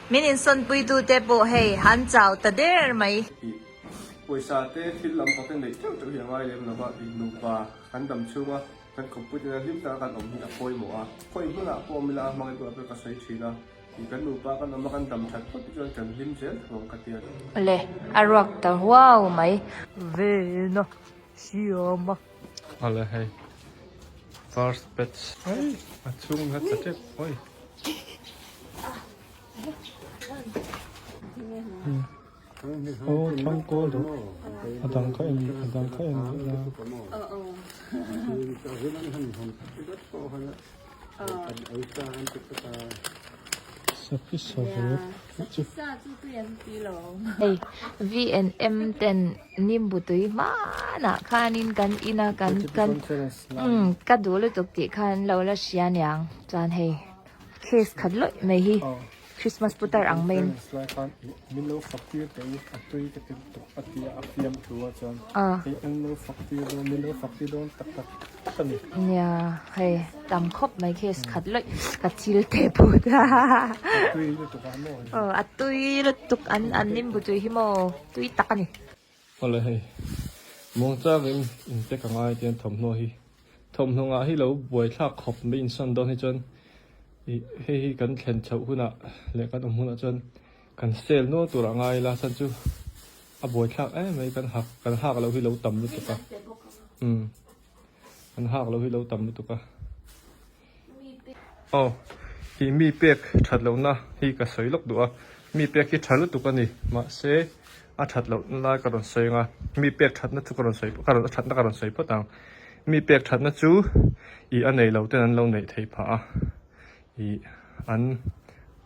Min insawnpui tu te pawh hei han chau ta der mai. Ih, pawisa te thil lam pawh kan neih teuh teuh hi a ngai lem lo va, ih nupa kan dam chhung a, kan kawp pui tena hlim taka kan awm hi a pawimawh a, khawi hmunah pawh awm ila a hmangaih bulah pawh ka sawi thin a, ih kan nupa kan awm a kan dam that phawt hi chuan kan hlim zel thung ang ka ti a. Le a ruak ta huau mai. Ve na, siam a. Ala hei first batch ai a chhung la ta tep oi o thang ko do a dang kha em a dang kha em la Hei V and M ten Nimbutui hmanah khanin kan ina kan kan umm ka duh lutuk tih khan lo la hria niang chuan hei case khat lawih mai hi. Christmas putar ang maiin. Nia hei tam khawp mai khi khat lawih ka thil teh pawh a tui lutuk an nin bu tui hi maw tui tak a ni. Awle hei, muang changin in tek anga hetiang an thawmhnaw a hi. Thawmhnawngah hi lo buaithlak khawp mai insawn dawn hi chuan ih hei hi kan thlen chhoh hunah leh kan awm hunah chuan kan sale nual turah a ngai ila chan chu a buaithlak em mai kan hak kan hak loh hi lo tam lutuk a, umm kan hak loh hi lo tam lutuk a. Aw, i mi pek that lohna hi ka sawi lawk duh a, mi pek hi tha lutuk a ni, mahse a that loh lai ka rawn sawi ang a, mi pek thatna chu ka rawn sawi, a thatna ka rawn sawi phawt ang. Mi pek thatna chu ih a nei lo ten an lo neih theih phah a, ih an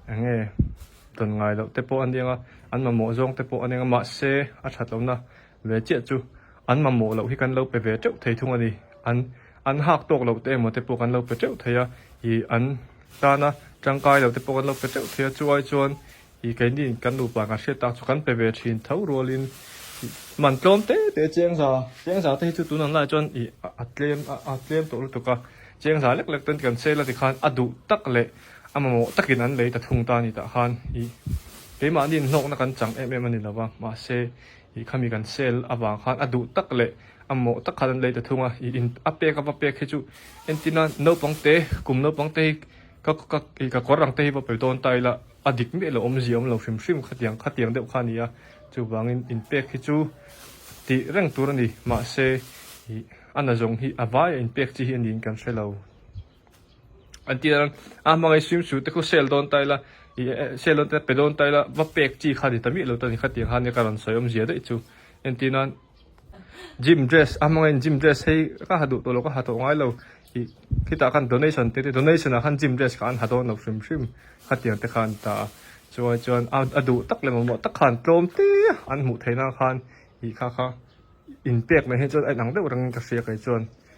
eng nge dawn ngai loh te pawh a ni ang a, an mamawh zawng te pawh a ni ang a, mahse a that lohna. Ve chiah chu, an mamawh loh hi kan lo pe ve teuh thei thung a ni. An an hak tawk lohte emaw te pawh kan lo pe teuh thei a, ih an tana tangkai lohte pawh kan lo pe teuh thei a, chuai chuan ih keini kan nupa kan hriat tak chu kan pe ve thin tho rualin ih man tlawm te te chengza chengza te hi chu tun ang lai chuan ih a tlem a tlem tawh lutuk a, chengza lek lek ten kan sel a ti khan a duh tak leh a mamawh takin an lei ta thung ta a ni tah khan ih keimahniin hnawkna kan chang em em a ni lova mahse I khami kan sale avang khan a duh tak leh a mawh tak khan an lei ta thung a, i in a pek a va pek hi chu entina naupangte kum naupangte hi ka ka i ka kawr ang te hi va pe dawn ta ila a dik miah lo awmzia awm lo hrim hrim khatiang khatiang deuh kha a ni a, chuvangin in pek hi chu tih reng tur a ni mahse i ana zawng hi a vaia in pek chi hi a niin kan hre lo. an ti dan a a hmangaih swimsuit te khaw sale dawn ta ila ih eh sale dawn ta ila pe dawn ta ila va pek chi kha ni ta mih lo ta ni khatiang khan ka rawn sawi awm zia daih chu entir nan gym dress a hmang in gym dress hi ka ha duh tawh lo ka ha tawh ngai lo ih khitah khan donation te te donation ah khan gym dress kha an ha dawn lo hrim hrim khatiang te kha an ta a chuan chuan a a duh tak leh mamawh tak khan tlawm te an hmuh theih nan khan ih kha kha in pek mai hi chuan a inang deuh reng in ka hria kaih chuan.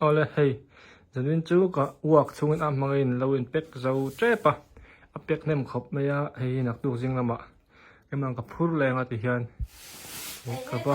Awle hei zanvin chu ka uak chhungin a hmangin lo in pek zo tep a, a pek hnem khawp mai a, hei hi naktuk zing lamah em ang ka phur leng a tihian ka va.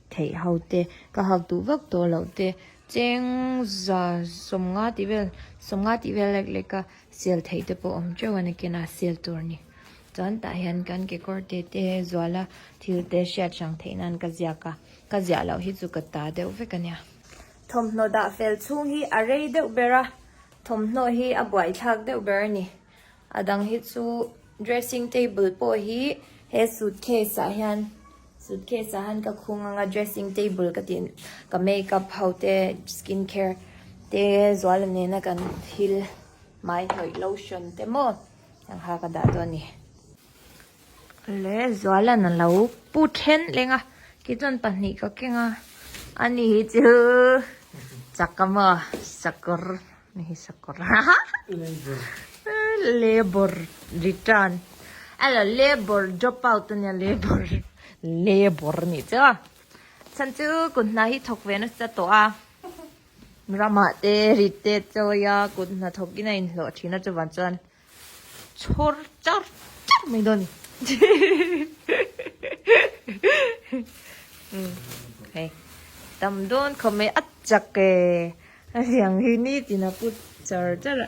theih ho te, ka hak duh vak tawh loh te, chengza sawmnga tih vel sawmnga tih vel lek lek a sial theih te pawh awm teuh a ni kena sial tur ni. Chuan tah hian kan kekawr te te zuala thil te hriat hrang theih nan ka ziak a, ka ziah loh hi chu ka ta deuh vek a nia. Thawmhnaw dah fel chhung hi a rei deuh ber a, thawmhnaw hi a buaithlak deuh ber a ni. A dang hi chu dressing table pawh hi he suitcase ah hian suitcase ah hian ka khung ang a dressing table ka tih ka make up ho te skin care te zual a nena kan thil mai hnawih lotion te maw ang kha ka dah dawn a ni Leh Zualan a lo pu then leng a, kei chuan pahnih ka keng a, ani hi chu chak a maw, sakawr, ni hi sakawr haha, labour return, ela labour drop out ania labour, labour a nih chu, chhan chu kut hna hi thawk ve nasa tawh a, ramah te rit te a chawi a, kut hna thawk in a inhlawh thin a chuvang chuan. chhawr char char mai dawn ni hei tam dawn kha mai a chak e a liang hi nitin a put char char a.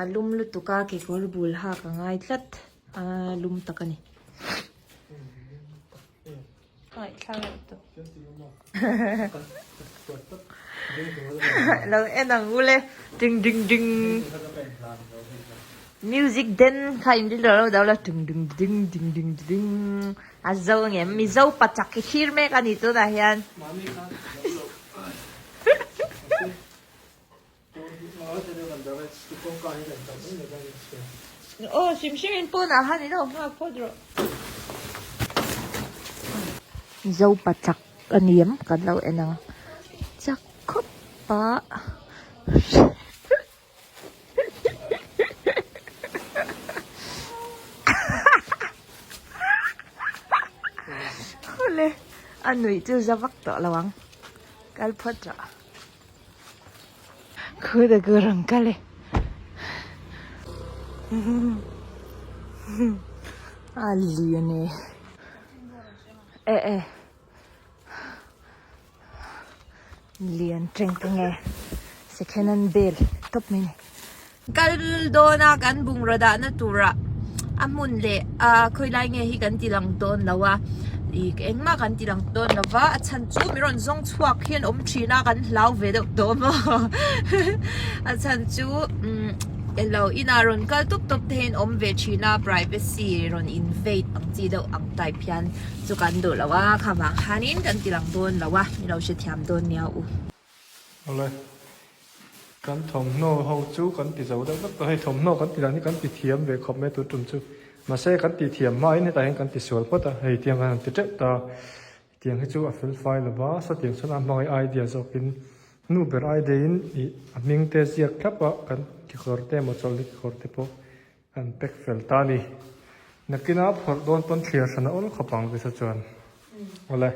A lum lutuk a kekawr bul hak a ngai tlat a lum tak a ni. Lo en ang u le ding ding ding. Music den kha in rilru lo dau la ding ding ding ding ding ding. A zo nge mizo pachak i thlir mek a ni tunah hian. Aw hrim hrim in pawn ah han ilo nghak phawt rawh. Zopa chak aniam kan lo en ang chak khawp a hule a nuih chu zavak tawh lo ang kal phawt rawh. Khu da gu rang kal e. A lian e. E e. Lian teng teng e. Second hand bel top mai ni. Kal dawna kan bungraw dahna tura a hmun leh a khawilai nge hi kan tilang dawn lo a i engmah kan tilang dawn lo va a chhan chu mi rawn zawng chhuak hian awm thina kan hlau ve deuh tawh maw a chhan chu um elo ina rawn kal tawp tawp te hian awm ve thina privacy rawn invade ang chi deuh ang type hian chu kan duh lo a khamah khanin kan tilang dawn lo a ni lo hrethiam dawn nia u. Awle kan thawmhnaw ho chu kan ti zo deuh deuh a, hei thawmhnaw kan tih dan hi kan ti thiam ve khawp mai tur tum chu. Mahse kan tih thiam hmain hetah hian kan ti sual phawt a, hei tiang khan an ti teuh ta. Tiang hi chu a felfai lo va, sawtiang chuan a hmangaih ai diah zawkin hnu ber ai deiin ih a hming te ziak thlap a, kan kekawr te emaw chawlhna kekawr te pawh an pek fel ta ni. Nakina phawrh dawn pawn thliar thlana awl khawp ang visa chuan. Awle.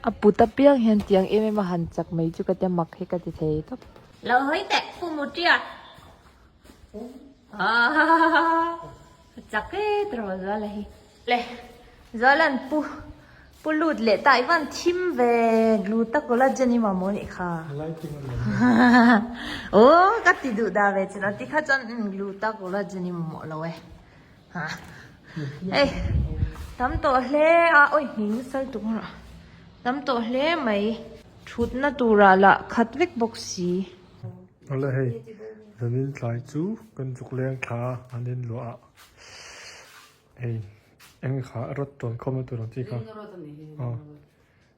A put apiang hian tiang em em a han chak mai chu ka tia mak hi ka ti thei tawp. Lo hawi teh fumu tia ka chak e tiraw Zuala hi. Le Zuala'n pu pu lut leh ta ivan thim ve glu ta kawla Jenny mamawh anih kha aw ka ti duh da ve chin a ti kha chuan glu ta kawla Jenny mamawh lo e. Ei tam tawh hle a awi hming sal tum a tam tawh hle mai thutna tura lah khat vek bawk si. Awle hei zanin tlai chu kan zuk leng tha a an in luah a hei eng kha rod tawn khawm na tur ang chi kha a.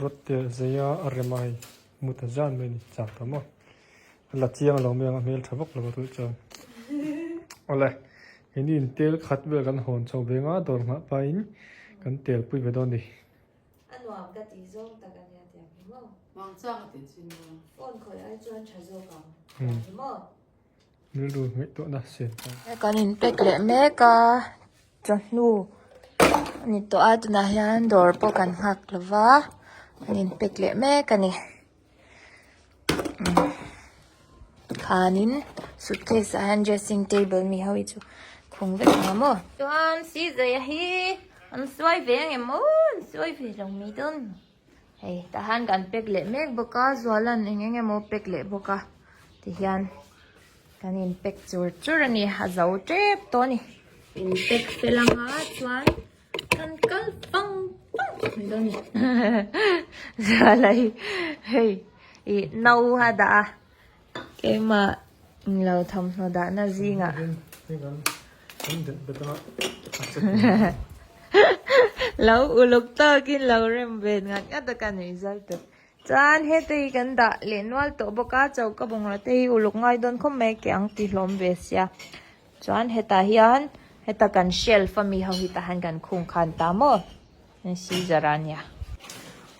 Rawt tel zei a a rem ai mu ta zan mai ni chak ta maw a la chiang lo mai ang a hmel tha vak lo a tu chuan awle he ni in tel khat vel kan hawn chho ve nga dawr nghah pa in kan tel pui ve dawn ni a nuam ka ti zawng tak a nia tiang hi maw vang chang a ti chin maw phone khawih ai chuan tha zawk ang tiang hi maw. Rilru ngaihtuahna siam chang. Kan in pack leh mek a, chawhnu a ni tawh a, tunah hian dawr pawh kan nghak lo va, kan in pack leh mek a ni. Khanin suitcase ah hian dressing table mi ho hi chu khung vek ang maw. Chuan Sizeia hi an suai ve ang em aw, an suai ve lo mai dawn. Hei tah hian kan pack leh mek bawk a, Zualan eng eng emaw pack leh bawk a ti hian kan in pack chur chur a ni, a zo tep tawh a ni. In pack fel ang a chuan kan kal pang pang mai dawn a ni. Zuala hi hei ih no a dah a. Keimah in lo thawmhnaw dahna zingah lo uluk tawkin lo rem ve ngat ngat a ka nuih zal tawh. Chuan hete hi kan dah leh nual tawh bawk a, chaw ka bungrau te hi uluk ngai dawn khawp mai a ke ang tihlawm ve sia. Chuan hetah hian heta kan shelf ami ho hi tahan kan khung khan ta maw. Caesar a nia.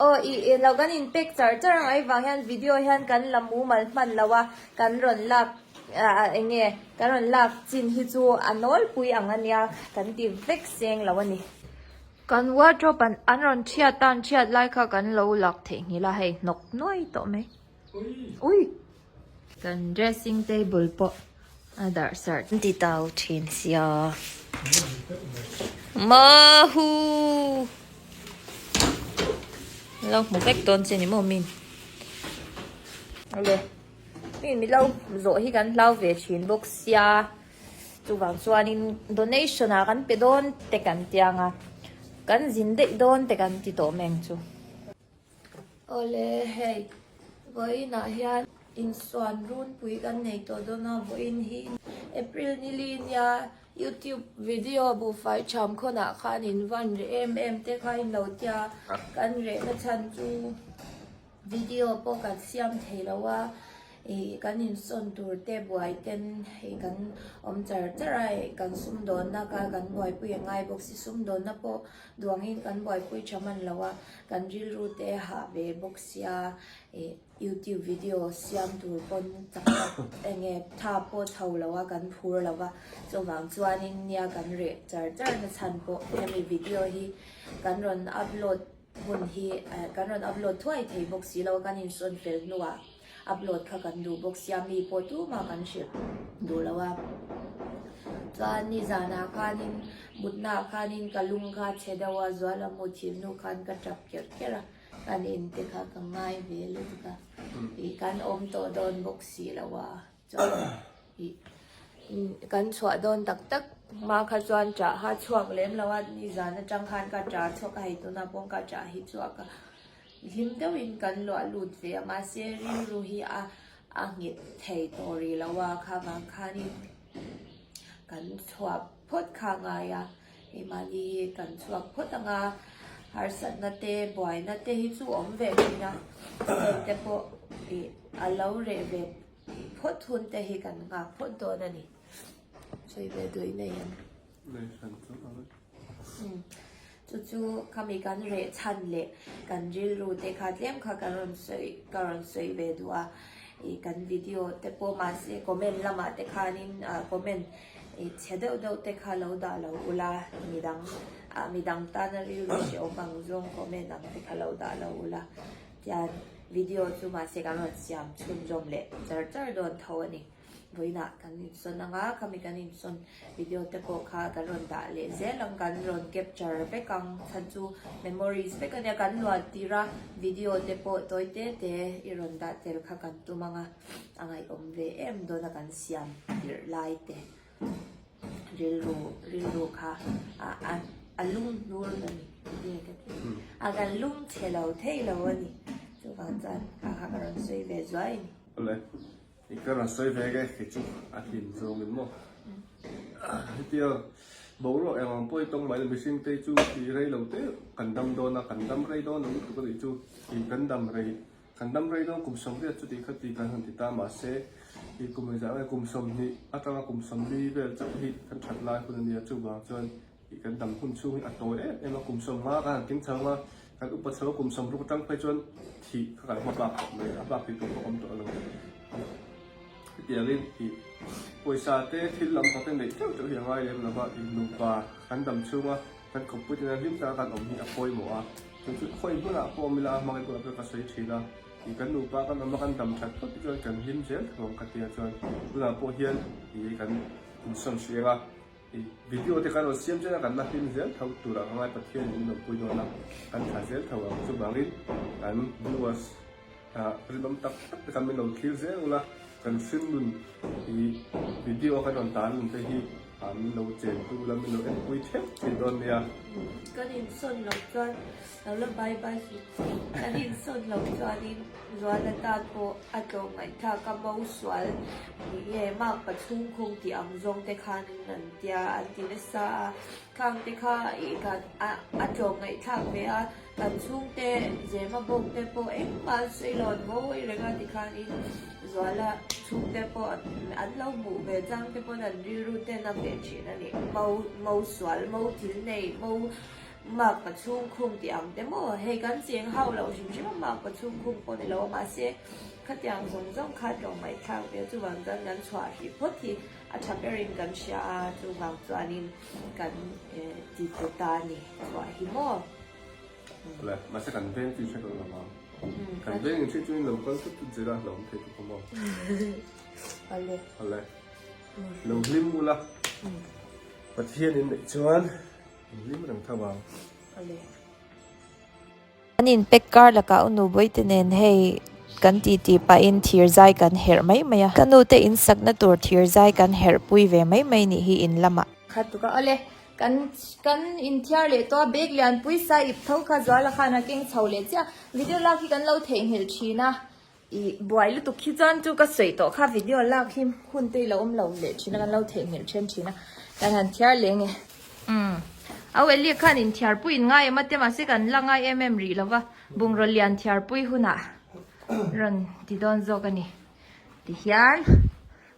Aw i i lo kan in pek char char ang ai vang hian video hian kan la mumal hman lo a kan rawn lak ah eng nge kan rawn lak chin hi chu a nawlpui ang a nia kan ti vek seng lo a ni. Kan wardrobe an rawn thiat tan thiat lai kha kan lo lak theihnghilh a hei hnawk nuai tawh mai. Uih! Kan dressing table pawh a darh sarh. An ti tau thin sia. Mahu! Lo hmu vek dawn che ni maw min? Ole, min milo zawh hi kan hlau ve thin bawk sia. Chuvang chuanin donation a kan pe dawn te kan tianga kan zin daih dawn te kan ti tawh meng chu. Aw le, hei vawiin ah hian insuan runpui kan nei tawh dawn a, vawiin hi April nili nia youtube video buhfai chham khawn ah khan in van reh em em te kha in lo tia, kan reh na chhan chu video pawh kan siam thei lo a, ih kan insawn tur te buai ten ih kan awm char char a, ih kan sumdawn na kha kan buaipui a ngai bawk si, sumdawn na pawh Duangin kan buaipui tha man lo a, kan rilru te hah ve bawk sia, ih youtube video siam tur pawn tak tak eng nge tha pawh tho lo a kan phur lo va, chuvang chuanin nia kan reh char char na chhan pawh hemi video hi kan rawn upload hun hi, kan rawn upload thuai thei bawk si lo a kan insawn fel hnuah. Upload kha kan duh bawk sia mi pawh tumah kan hrilh duh lo a. Chuan nizana khanin mutna khanin ka lung kha che deuh a, Zualamu thilnu khan ka tap ker ker a, kan inte kha ka ngai ve lut ka, ih kan awm tawh dawn bawk si lo a. Kan chhuah dawn tak tak hma kha chuan Ṭaha chhuak lem lo a, nizan aṭang khan ka ṭa chhuak a, hei tuna pawh ka ṭa hi chu a ka hlim deuhin kan luah lut ve a, mahse rilru hi a a nghet thei tawh rih lo a, kha vang khanin kan chhuak. phawt kha ngai a, i mahni hi kan chhuak phawt ang a, harsatna te buaina te hi chu awm ve thin a, state te pawh ih a lo reh ve phawt hun te hi kan nghak phawt dawn a ni. Sawi ve duai nei ang. Chu chu khami kan reh chhan leh kan rilru te kha tlem kha ka rawn sawi ka rawn sawi ve duh a ih kan video te pawh mahse comment lamah te khanin comment ih chhe deuh deuh te kha lo dah lo ula midang ah midang tana rilru hreh awm ang zawng comment ang te kha lo dah lo ula tian video chu mahse kan rawn siam chhunzawm leh char char dawn tho a ni. vawilah kan insawn ang a, khami kan insawn video te pawh kha kan rawn dah leh zel ang, kan rawn capture vek ang, chhan chu memories vek a nia, kan luan tir a video te pawh tawi te te i rawn dah tel kha kan tum ang a, a ngaihawm ve em dawn a kan siam dirh lai te rilru rilru kha a lung hnur lo ni nge ka tih hi, a kan lung chhe lo thei lo a ni, chuvang chuan kha kha ka rawn sawi ve zuai a ni. I ka rawn sawi vek e, kei chu a hlim zawng in maw. Hetia boruak eng ang pawh i tawng mai lo, mihring te chu i rei lo teh kan dam dawn a, kan dam rei dawn lo lutuk a nih chu i kan dam rei, kan dam rei dawn kum sawmriat chu tih kha ti kan han ti ta mahse i kum rizah nge kum sawmhnih atanga kum sawmli vel chauh hi kan that lai hun a nia chuvang chuan Kan dam hun chhung hi a tawi em em a, kum sawm nga ka han keng chho a, kan upa chho kum sawm ruk atang phei chuan thih kha kan hma bak tawh mai, a bak thei tur pawh awm tawh lo. Hetiangin ih pawisa te thil lam tak te neih teuh teuh hi a ngai lem lova, ih nupa kan dam chhunga kan kawp pui tena hlim taka kan awm hi a pawimawh a, chu chu khawi hmunah pawh awm ila a hmangaih bulah pawh ka sawi thin a, ih kan nupa kan awm a kan dam that phawt hi chuan kan hlim zel thung ang ka tia chuan tunah pawh hian ih kan kum sawm si eng a. Video te kan rawn siam chen a kan la hlim zel tho tur ang a ngai Pathian in rawn pui dawn a kan tha zel tho ang chuvang in kan viewers rilawm tak tak te kan min lo thlir zel ula kan hringnun hi video kan rawn tar nun te hi min lo chen tu ula min lo en pui theuh thin dawn nia kan insawn lo chuan Lo la bai bai suh chi. Ka din sawn lo chuanin Zuana tan pawh a tlawh ngaihthlak ka mo sual ni e. Mark pa chhungkhung tih ang zawng te khan in rawn tia an ti nasa a. Khang te kha a tlawh ngaihthlak ve a, kan chhungte Zema bawk te pawh engmah sawi lo an ngawi reng a ti khan in Zuala chhungte pawh an lo hmuh ve chang te pawn an rilru ten a ve thin a ni. Mo sual, mo thil nei, mo Mak ka chhungkhung tih ang te maw? Hei kan cheng hau loh hrim hrim a mak ka chhungkhung pawh ni lo. Mahse, khatiang zawng zawng kha tlawm mai thlak ve chuvang chuan kan chhuah hrih phawt hi a tha berin kan hria a, chuvang chuanin kan ti tlu ta a ni. Chhuah hi maw? Hle, mahse kan veng tih hre kan la maw? Kan veng in hrih chuin lo kal tut tut zir a, lo awm thei tuk a maw? Hle. Hle. Lo hlim ula. Pathian in neih chuan. Englim reng tho ang. A leh. Kan in pack kar lakah unu bawite nen hei kan tih tih pahin thirzai kan herh mai mai a. Ka nu te in sakna tur thirzai kan herh pui ve mai mai nih hi in lam ah. Khat tuk a. A leh. Kan kan in thiar leh tawh a bag lian pui sa ip tho kha zuala khan a keng chho leh chiah. Video lak hi kan lo theihnghilh thin a. I buai lutuk khi chuan chu ka sawi tawh kha video lak hi hun te i lo awm lo leh thin a kan lo thei nghilh then thin a kan han thiar leh nge umm a wellek khan in thiar pui in ngai em ate mahse kan la ngai em em rih lova bungraw lian thiar pui huna rawn ti dawn zawk a ni ti hian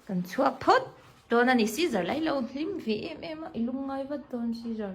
kan chhuak phawt dawn a ni sizer lai lo hlim ve em em a i lungngai vat dawn sizer.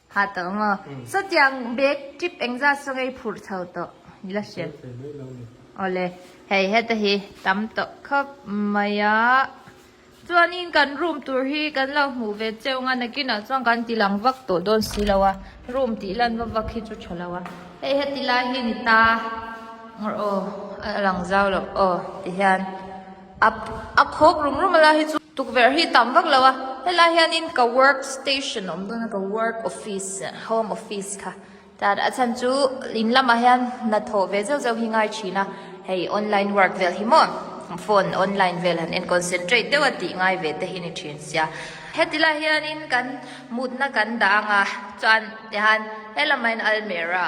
Hah tawh maw. Chutiang bag tip engzat chu ngei phurh tho tawh i la hriat. Aw le. Hei heta hi tam tawh khawp mai a. Chuanin kan room tur hi kan lo hmuh ve cheu nga nakinah chuan kan ti lang vak tawh dawn si lo a. Room tih lan va vak hi chu tha lo a. Hei heti lai hi ni ta. Aw a lang zau loh aw ti hian. A khawk rum rum a la hi chu tukverh hi tam vak lo a helai hianin ka work station awm dawn a ka work office home office kha tan a chhan chu in lamah hian hnathawh ve zeuh zeuh hi ngai thin a hei online work vel hi maw phone online vel han en concentrate deuh a tih ngai ve te hi a ni thin sia heti lai hianin kan mutna kan dah ang a chuan tihan helamah hian almera .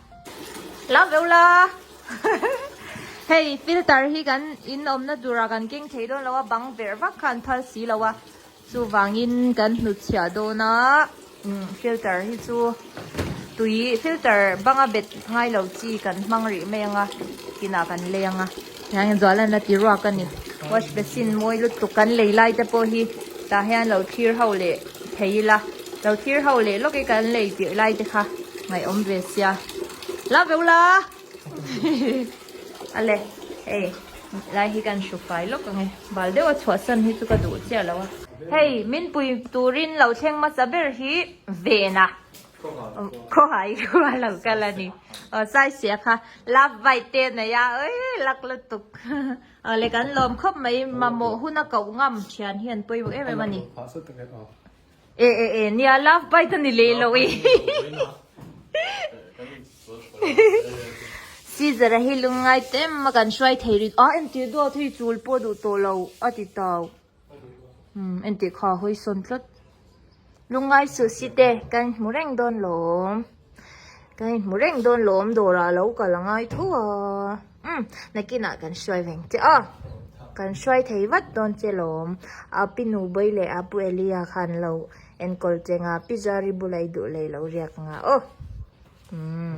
Lam veu la! Hei filter hi kan in awmna turah kan keng thei dawn lo a, bang ber vak kha an phal si lo a. Chuvangin kan hnutchhiah dawna filter hi chu tui filter banga bet ngai lo chi kan hmang rih mai anga, tinah kan lei anga. Tiang in zual an la ti ruak a ni. Wash basin mawi lutuk kan lei lai te pawh hi tah hian lo thlir ho leh thei ila, lo thlir ho leh lawk i kan lei tirh lai te kha ngaihawm ve sia. La ve ula! A le, hei, lai hi kan hru fai lawk ang e. Bal deuh a chhuah san hi chu ka duh chiah lo a. Hei, min pui turin lo thleng hmasa ber hi vena Khawhai hi thu a lo kal a ni. Aw size hi a kha. Love bite te a nei a. Ui lak lutuk. Aw le kan lawm khawp mai. Mamawh hun a koh ngam thian hian pawimawh em em a ni. E e e nia love bite a ni leh lo i. Scissor a hi lungngai tem a kan hruai thei rin. A entir duak thu i chul pawh duh tawh lo a ti tau. Umm entih kha hawi sawn tlat. Lungai suhsi te kan inhmu reng dawn lawm. Kan inhmu reng dawn lawm dawrah a lo kal a ngai tho a. Umm nakinah kan hruai veng che a. Kan hruai thei vat dawn che lawm. A pi nubawi leh a pu Elia kha an lo enkawl che nga. Pi Zari bula i duh lei lo riak nga aw. Umm.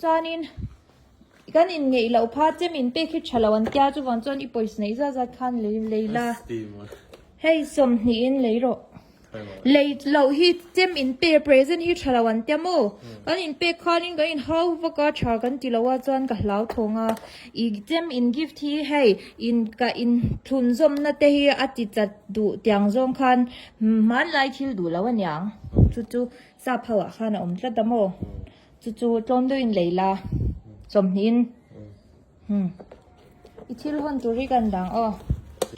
Chuanin kan inngeih loh kha chem in pek hi tha lo an tia chuvang chuan i pawisa neih zat zat khan lei lei la hei sawmhnih in lei rawh lei loh hi chem in pe present hi tha lo an tia maw kan in pek khan in kan in hau vak a tha kan ti loh a chuan ka hlau thawng a i chem in gift hi hei in ka in thlun zawm na te hi a ti tlat duh tiang zawng khan hmanlai thil duh loh a niang chu chu sap ho ah khan a awm tlat a maw. Chu chu tlawm deuh in lei la, chawmhnih in hm i thil hawn tur hi kan dang aw.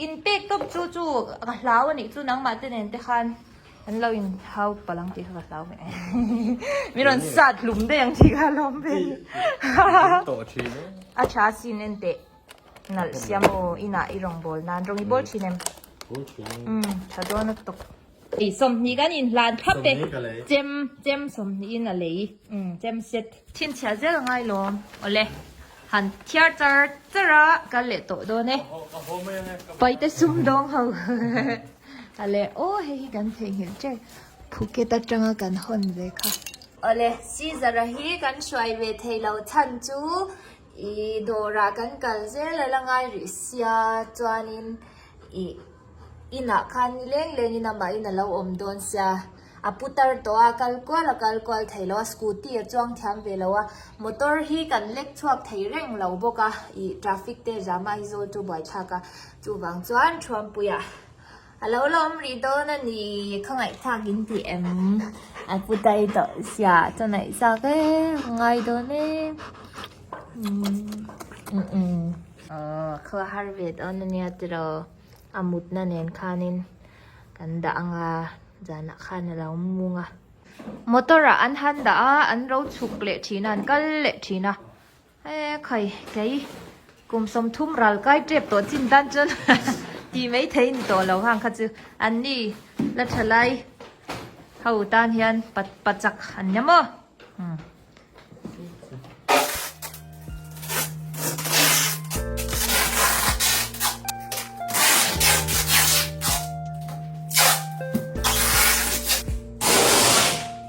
In pek tawp chu chu ka hlau anih chu nangmah te nen te khan an lo in hau palh ang tih kha ka hlau e min rawn sat hlum daih ang tih kha a lawm ve ani a tha sin en teh nalh sia maw inah i rawn bawl nan rawng i bawl thin em tha dawn a tawk. Ei sawmhnih kan in hlan phap e. Chem, chem sawmhnihin a lei. Umm, chem set. Chhinchhiah zel a ngai lawm. Awle. Han thiar char char a, kal leh tawh dawn e. Paite sum dawng ho. Awle. Aw, hei hi kan theihnghilh teh. Phuket atanga kan hawn ve kha. Awle. Scissor-a hi kan hruai ve thei lo chhan chu I dawrah kan kal zel a la ngai rih sia chuanin i inah khan ni leng lengin amah in a lo awm dawn sia. A putar tawh a, kal kual a kal kual thei lo a, scooty a chuang thiam ve lo a, motor hi kan lek chhuak thei reng lo bawk a, i traffic te zama hi zawl chu buaithlak a, chuvang chuan Thruampui ah. A lo la awm rih dawn a ni, kha ngaihthlak in tih em a pu dai tawh sia, chaw naih zak e, ngai dawn e, a kha har ve dawn a nia tiraw, a mutna nen khanin kan dah ang a, zanah khan a lo mung a. Motor ah an han dah a, an ropchhuk leh thin a, an kal leh thin a, He khai kei kum sawmthum ral kai tep tawh chin tan chuan tih mai thei ni tawh lo hang kha chu an ni la tha lai ho tan hian pat pachak an nia maw hmm.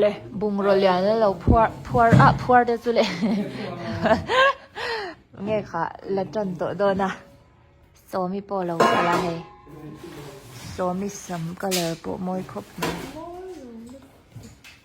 Le bungraw lian la lo phuar phuar ah phuar te chu le nge kha la tan tawh dawn a sawmi pawh lo kal a hei sawmi sam colour pawh mawi khawp mai.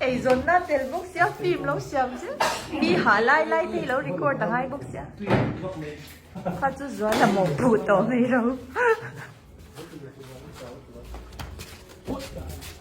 Eizawnna tel bawk sia film lo siam zel mi hah lai lai te ilo record angai bawk sia kha chu zuala mawh phu tawh mai ro.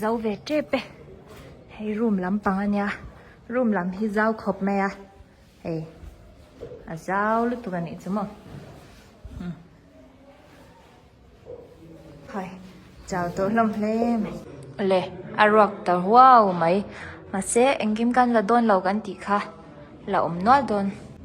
zo ve tep e hei room lam pang ania room lam hi zau khawp mai a hei a zau lutuk a nih chu maw umm haw chau tawh hlawm hle mai le a ruak ta huau mai mahse engkim kan la dawn lo kan tih kha la awm nual dawn.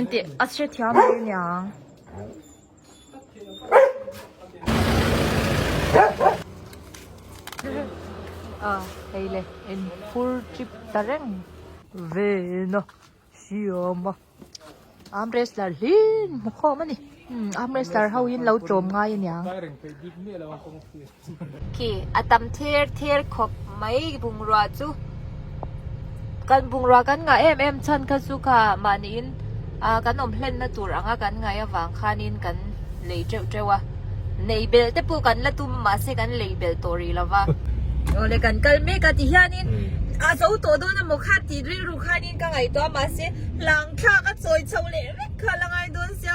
Entih a hre thiam mai niang. A hei le en fur trip ta reng. Ve na siam a. Arm wrestler hlin hmu khawm a ni. Arm wrestler ho hi an lo tlawm ngai a niang. Khi a tam ther ther khawp mai bungrua chu kan bungrua kan ngah em em chhan kha chu kha mah niin ahh kan awm hlenna tur ang a kan ngaih avang khanin kan lei teuh teuh a. Nei belh te pawh kan la tum mahse kan lei belh tawh rih lova. Awle kan kal mek a ti hianin a zo tawh dawn emaw kha tih rilru khanin ka ngaih tawh a mahse hlangthlak a chawi chho leh vek kha a la ngai dawn sia.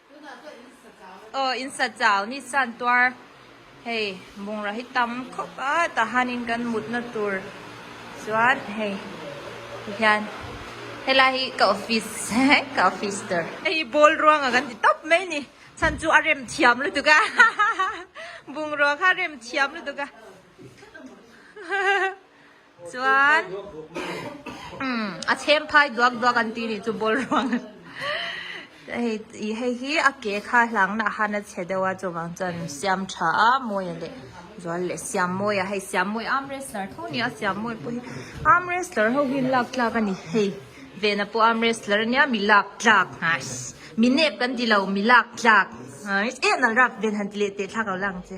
Aw insachau ni chuan tuar hei bungrau hi tam khawp a tah hianin kan mutna tur chuan hei hian helai hi ka office ka office dawr hei hi ball ruanga kan ti tawp mai ni chhan chu a rem thiam lutuk a hahaha bungrua kha rem thiam lutuk a hahaha. Chuan a chhem phai duak duak an ti nih chu ball ruang hei hi a ke kha hlang na han a chhe deuh a chuvang chuan siam tha a mawia leh zual leh siam mawia hei siam mawi arm wrestler tho nia siam mawi pawh hi arm wrestler ho hian lak tlak a ni hei vena pawh arm wrestler ania mi lak tlak hah mi nep kan ti lo mi lak tlak eh nalh rap ven han ti leh tehthlak lo lang che.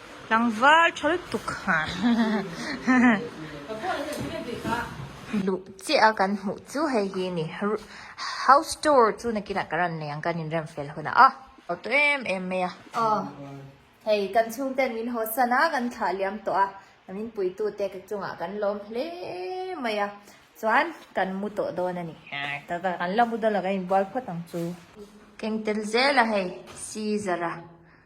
Tlangval thal tuk luh chiah a kan hmuh chu hei hi a ni house tour chu na kinah ka rawn nei ang kan in rem fel hun a haw tawh em em mai a aw hei kan chhung ten min haw san a kan thlah liam tawh a kan in pui tu te ka chungah kan lawm hle mai a chuan kan mu tawh dawn a ni tata kan la mu dawn lo kan in bual phawt ang chu keng tel zel a hei Caesar a.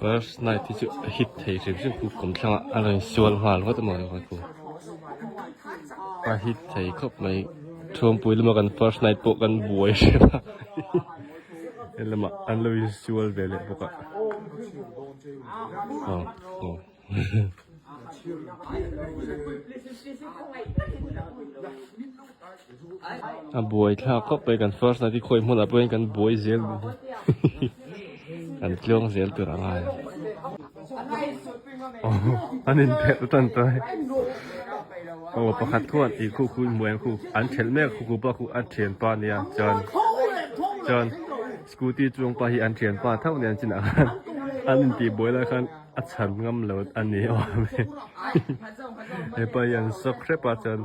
First night hi chu a hit thei rip rip chu kum thlanga a rawn insual nghal ngawt a mawni vang chu a hit thei khawp mai chhungpuii lama kan first night pawh kan buai rep a helamah an lo insual ve leh bawk a aw aw. a buai thla khawp mai kan first night hi khawi hmunah pawhin kan buai zel mai hi kan tliawng zel tur ang ai aww an inphelh atan ta hi aw pakhat chuan ih khu khu inbuai ang khu an khelh mek khuku pawh khu a thian pa nia chuan chuan scooty chuang pah hi an thian pa tho nia an chinah khan an intih buai lai khan. A chhan ngam lo a ni awm e. Hepa hian shock hrep a chuan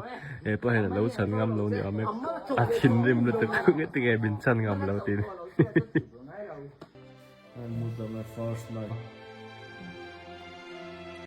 hepa hian alo chhan ngam lo ni awm e. A thinrim lutuk nge ti nge min chhan ngam lo tih ni.